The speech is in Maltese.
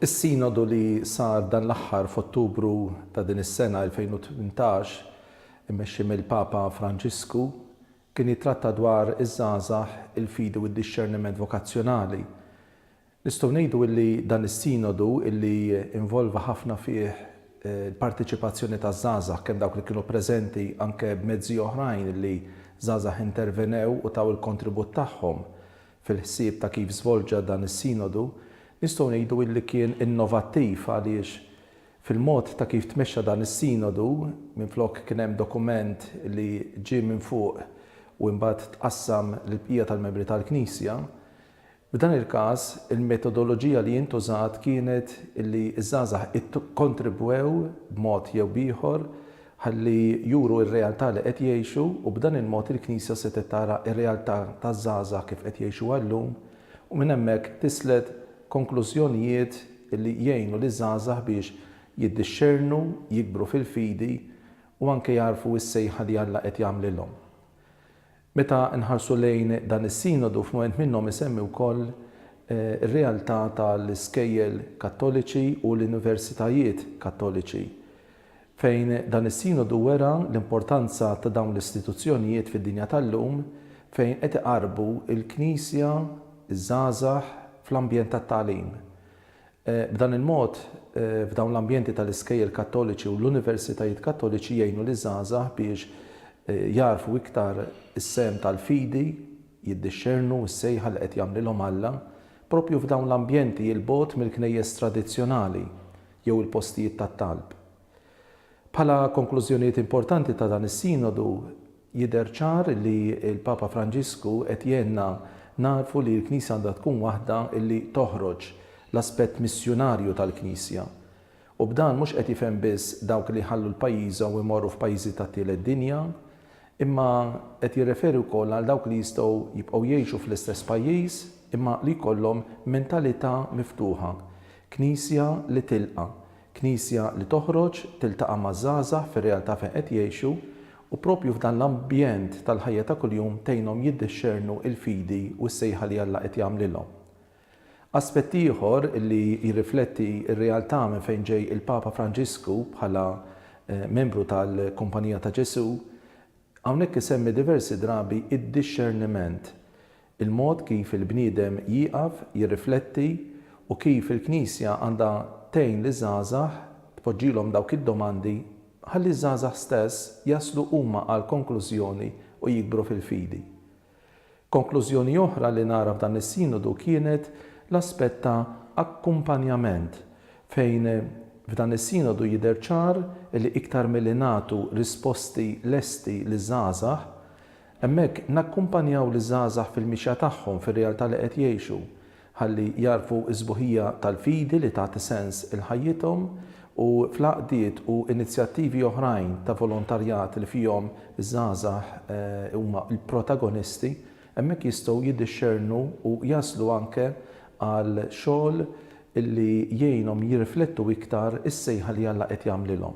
Is-Sinodu li sar dan l-aħħar f'Ottubru ta' din is-sena 2018, immexxi mill-Papa Franġisku, Kien jittratta dwar iż-żgħażagħ, il-fidi u d-dixxerniment vokazzjonali. Nistgħu ngħidu illi dan is-Sinodu illi involva ħafna fih l-parteċipazzjoni taż-żgħażagħ, kemm dawk li kienu preżenti anke b'mezzi oħrajn illi żgħażagħ intervenew u taw il-kontribut tagħhom fil-ħsieb ta' kif żvolġa dan is-Sinodu, nistgħu ngħidu illi kien innovattiv għaliex Fil-mod ta' kif tmexxa dan is-Sinodu, minflok kien hemm dokument li ġie minn fuq u imbagħad tqassam lill-bqija tal-membri tal-Knisja. F'dan il-każ, il-metodoloġija li intużat kienet li ż-żgħażagħ ikkontribwew b'mod jew b'ieħor ħalli juru r-realtà li qed jgħixu u b'dan il-mod il-Knisja setgħet tara r-realtà taż-żgħażagħ kif qed jgħixuha llum u minn hemmhekk tislet konklużjonijiet li jgħinu liż-żgħażagħ biex jiddixxernu, jikbru fil-fidi u anke jagħrfu s-sejħa li Alla qed jagħmlilhom. Meta nħarsu lejn dan is-Sinodu f'mument minnhom isemmi wkoll ir-realtà tal-iskejjel Kattoliċi u l-universitajiet Kattoliċi fejn dan is-Sinodu wera l-importanza ta' dawn l-istituzzjonijiet fid-dinja tal-lum fejn qed iqarrbu l-Knisja, iż-żgħażagħ fl-ambjent tat-tagħlim. B'dan il-mod, f'dawn l-ambjenti tal-iskejjel Kattoliċi u l-Universitajiet Kattoliċi jgħinu liż-żgħażagħ biex jagħrfu iktar is-sehem tal-fidi, jiddixxernu s-sejħa li qed jagħmlilhom Alla, proprju f'dawn l-ambjenti 'l bogħod mill-knejjes tradizzjonali. jew il-postijiet tat-talb. Bħala konklużjonijiet importanti ta' dan is-Sinodu, jidher ċar li l-Papa Franġisku qed jgħinna nagħrfu li l-Knisja għandha tkun waħda li toħroġ l-aspett missjunarju tal-Knisja. U b'dan mhux qed jifhem biss dawk li jħallu l-pajjiżhom u jmorru f'pajjiżi tat-tielet dinja, imma qed jirreferi wkoll għal dawk li jistgħu jibqgħu jgħixu fl-istess pajjiż imma li jkollhom mentalità miftuħa Knisja li tilqa', Knisja li toħroġ tiltaqa' maż-żgħażagħ fir-realtà fejn qed jgħixu u proprju f'dan l-ambjent tal-ħajja ta' kuljum tgħinhom jiddixxernu l-fidi u s-sejħa li Alla qed jagħmlilhom. Aspett ieħor li jirrifletti r-realtà minn fejn ġej il-Papa Franġisku bħala membru tal-Kumpanija ta' Ġesù, Hawnhekk isemmi diversi drabi d-dixxerniment, il-mod kif il-bniedem jieqaf jirrifletti u kif il-Knisja għandha tgħin liż-żgħażagħ tpoġġilhom dawk id-domandi ħalli ż-żgħażagħ stess jaslu huma għal konklużjoni u jikbru fil-fidi. Konklużjoni oħra li nara f'dan is-Sinodu kienet l-aspett ta' akkumpanjament, fejn f'dan is-Sinodu jidher ċar li iktar milli nagħtu risposti lesti liż-żgħażagħ, hemmhekk nakkumpanjaw liż-żgħażagħ fil-mixja tagħhom fir-realtà li qed jgħixu, ħalli jagħrfu s-sbuħija tal-fidi li tagħti sens 'il ħajjithom, u fl-għaqdiet u inizjattivi oħrajn ta' volontarjat li fihom iż-żgħażagħ huma l-protagonisti, hemmhekk jistgħu jiddixxernu u jaslu anke għal xogħol li jgħinhom jirriflettu iktar is-sejħa li Alla qed jagħmlilhom.